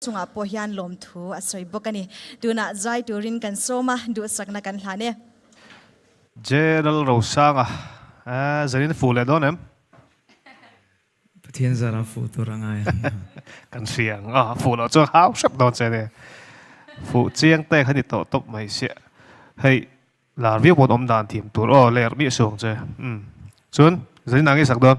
chungah pawh hian lawmthu a sawi bawk a ni. Tunah zai turin kan sawm a, duhsakna kan hlan e. General Rosanga, Aaa, Zenin fuh leh dawn em? Pathian zarah fuh tur a ngai ang a. Kan hria ang a, fuh loh chuan hau hrep dawn che nia. Fuh chiang te kha ni tawh tawp mai sia. Hei, lar viau pawn awm dan thiam tur aw, ler miah suang che. Umm. Chuan, Zenin a ngai sak dawn?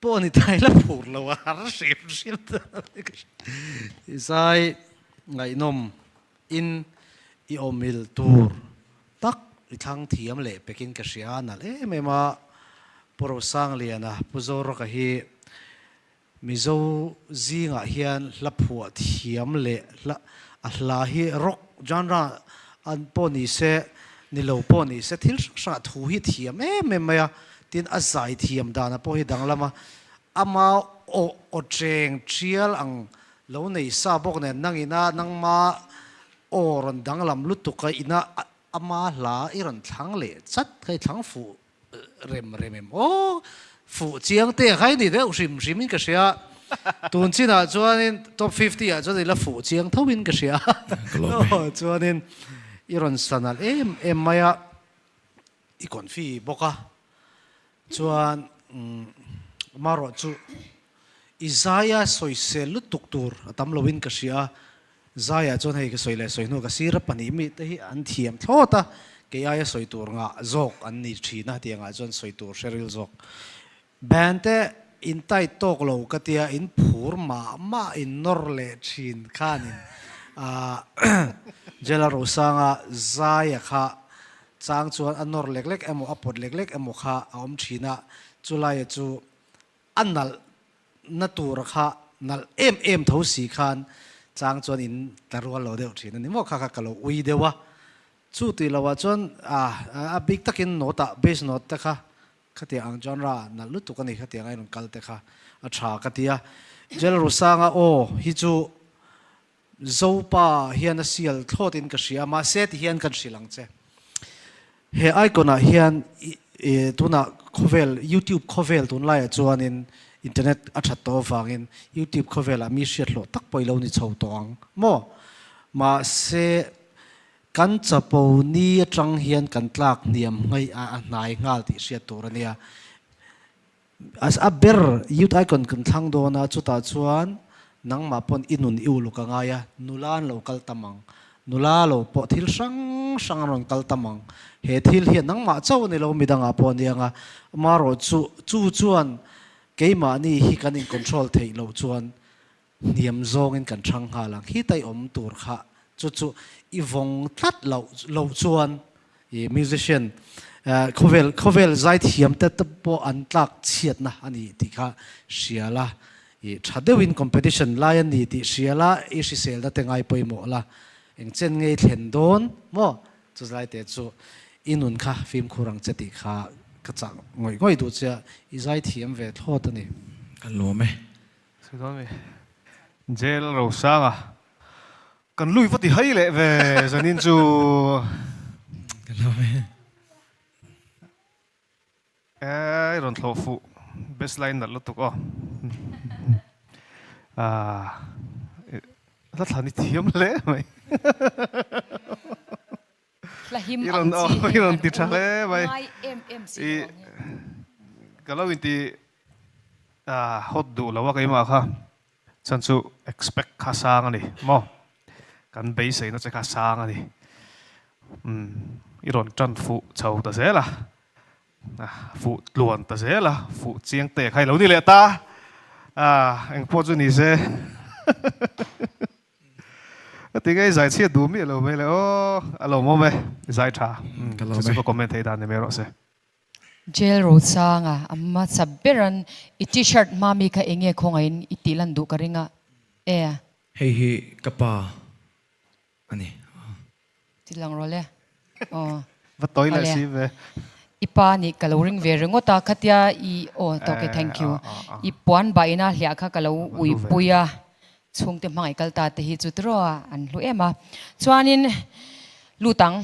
Pawh a ni thai la phur lo a har hrim hrim ta ni ka hre. Zai ngaihnawm in i awmil tur tak i thlang thiam leh pek in ka hria a nalh em em a Pu Rosanglian a Pu Zoraka hi Mizo zingah hian hla phuah thiam leh hla a hla hi rock genre An pawh ni se, ni lo pawh ni se, thil hrang hrangah thu hi thiam em em mai a, tin a zai thiam danah pawh hi danglam a, ama aw aw ṭeng ṭhial ang lo nei sa bawk nen, nang ina nangma aw rawn danglam lutuk a, ina ama hla i rawn thlang leh chat kha, i thlang fuh rem rem em aw fuh chiang te khai ni deuh hrim hrim in ka hria tun chin ah chuan in top fifty ah chuan ila fuh chiang tho in ka hria aw chuan in i rawn san alh em em mai a i kawn fi bawk a chuan umm marawh chu Isaiah sawisel lutuk tur a tam loin ka hria a, Isaiah chuan hei ka sawi leh sawi hnu ka sir a, pahnih mite hi an thiam thlawt a, kei aia sawi tur ngah zawk an ni thin a, hetiang ah chuan sawi tur hre ril zawk. Band te in tight tawk lo ka tia in phur mah mah in nawr leh thin khan in Jela Rosanga Zaya kha chang chuan a nawr lek lek emaw a pawt lek lek emaw kha a awm thin a, chulai a chu a nalh na tur kha nalh em em tho si khan chang chuan in tla rual lo deuh thin a ni maw kha kha ka lo ui deuh a, chu tih lo ah chuan a bik tak in note ah bass note te kha kha tiah ang genre ah nalh lutuk a ni kha tiang a i rawn kal te kha a tha ka ti a, Jel Rusanga aw hi chu. Zopa hian a sial thlawt in ka hria, mahse ti hian kan hrilh ang che. He icon ah hian tunah khawvel youtube khawvel tun lai ah chuanin internet a that tawh avangin youtube khawvel ah mi hriathlawh tak pawh i lo ni chho tawh ang maw? Mahse kan chapo ni atang hian kan tlak hniam hngaiha a hnai nghal tih hriat tur a nia. A ber youth icon kan thlang dawn a, chutah chuan nangmah pawn i nun i uluk a ngai a, nula an lo kal tam ang, nula lo pawh thil hrang hrang an rawn kal tam ang, he thil hian nangmah chauh a ni lo midang ah pawh a ni ang a, amarawhchu chu chuan keimahni hi kan in control theih loh chuan Hniam zawngin kan ṭhang nghal ang. Hi tai awm tur kha chu chu i vawng tlat loh loh chuan i musician khawvel khawvel zai thiamte te pawh an tlak chhiatna a ni tih kha hria la. I ṭha deuhin competition lai a ni tih hria la, i hrisel da te ngai pawimawh la. Eng chen ngei thlen dawn maw? Chu zai te chu i nun kha fimkhur ang che tih kha ka chah ngawih ngawih duh che a, i zai thiam ve thlawt a ni. Ka lawm e. Sawidawn mi Jail Rosanga kan lui vati hai leh ve zanin chu Eii rawn thlawh fuh best line nalh lutuk aw Ahh la thla ni thiam hle mai. I rawn aw i rawn ti tha hle mai i ka lo inti a hot duh lo a keimah kha chuan chu expect kha sang a ni maw kan beiseina che kha sang a ni umm i rawn tan fuh chho ta zel a fuh tluan ta zel a fuh chiang te khai lo ni leh ta a engpawh chu ni se. A ti ngei zai chhiat duh miah lo mai le aw a lo mawm e zai tha chu chu ka comment thei dan ni mai rawh se. Jail Rosanga a hmasa beran i t-shirt hma mi kha enge khawngaih in i tih lan duh ka ring a e. Hei hi ka pa a ni. Ti lang rawh le. Aw. Va tawi leh si ve. I pa nih ka lo ring ve ringawt a, khatia i aw ta ok thank you. I puan bah ina hliah kha ka lo uipui a, chhungte hmangaih kal ta te hi chu tirawa an hlu em a. Chuanin lut ang,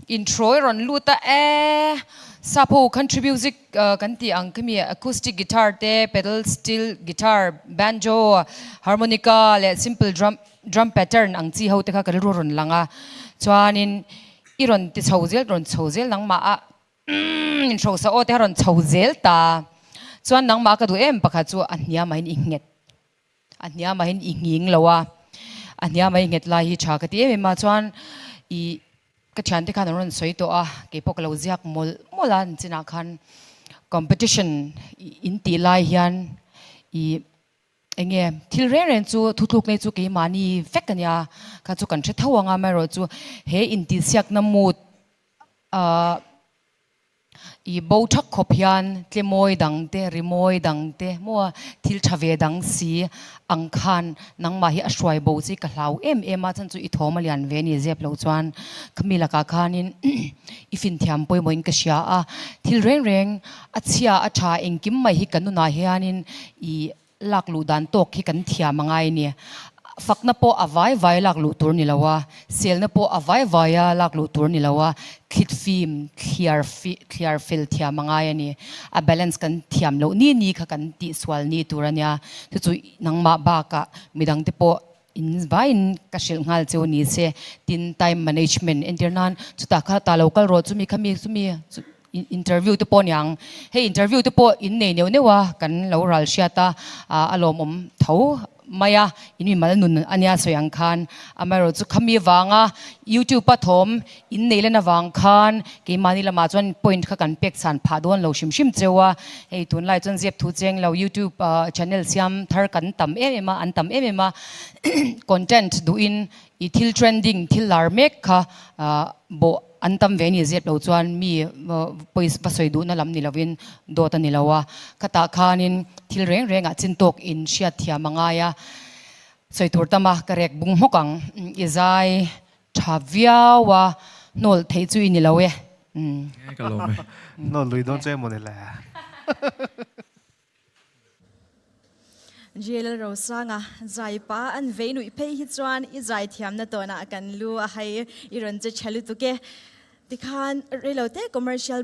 intro i rawn lut a e, Sapo country music kan tih ang kha mi, acoustic guitar te, pedal steel guitar, banjo, harmonica leh simple drum, Drum pattern ang chi ho te kha ka rilru rawn lang a, chuanin i rawn ti chho zel, rawn chho zel nangmah a umm in hrosa aw te kha rawn chho zel ta a, chuan nangmah ka duh em pakhat chu a hnia mahin i nghet, a hnia mahin i nghing lo a, a hnia mai nghet lai hi tha ka ti em em a, chuan ih ka thiante khan an rawn sawi tawh a, kei pawh ka lo ziak mawlh mawlh a, an chinah khan competition in tih lai hian ih Eng nge? Thil reng reng chu thutluk nei chu keimahni vek a nia, kha chu kan hre tho ang a, amaherawh chu he intihsiakna mood ah i bo thak khawp hian tlemawi dang te, rimawi dang te maw a, thil tha ve dang si ang khan nangmah hi a hruai bo chu i ka hlau em em a, chhan chu i thawm a lian ve ni zep lo chuan khami lakah khanin i finthiam pawimawhin ka hria a, thil reng reng. A chhia a tha engkim mai hi ka nunah hianin i lak luh dan tawk hi kan thiam a ngai ni. Fakna pawh a vai vai lak luh tur ni lo a, selna pawh a vai vai a lak luh tur ni lo a, thlit fim thliar thliar fel thiam a ngai a ni. A balance kan thiam loh ni ni kha kan tih sual ni tur a nia. Chu chu nangmah bakah midang te pawh In vaiin ka hrilh nghal che u ni se, tin time management entir nan chutah kha ta lo kal rawh chu mi kha mi chu mi interview te pawh a niang hei interview te pawh in nei neuh neuh a kan lo ral hriat a a lawmawm tho mai a in mimal nun ania sawi ang khan amaherawhchu khami vanga youtube a thawm In nei lan avang khan keimahni lamah chuan point kha kan pek chhan phah dawn lo hrim hrim cheu a, hei tunlai chuan ziak thu cheng lo youtube channel siam thar kan tam em em a, an tam em em a content duh in i thil trending thil lar mek kha bawh an tam ve ni zep lo chuan mi pawi va sawi duhna lam ni lovin dawt a ni lo a, khatah khanin thil reng reng ah chin tawk in hriat thiam a ngai a, sawi tur tam a ka rek bung hmawk ang i zai. Tha viau a hnawlh theih chu i ni lo e. Nge ka lawm e. Hnawlh lui dawn chu emaw ni le. Ril Rosanga, Zai pa an vei nuih phei hi chuan i zai thiamna tawnah kan lu a hai i rawn che tha lutuk e. Tikhan rei lo teh commercial.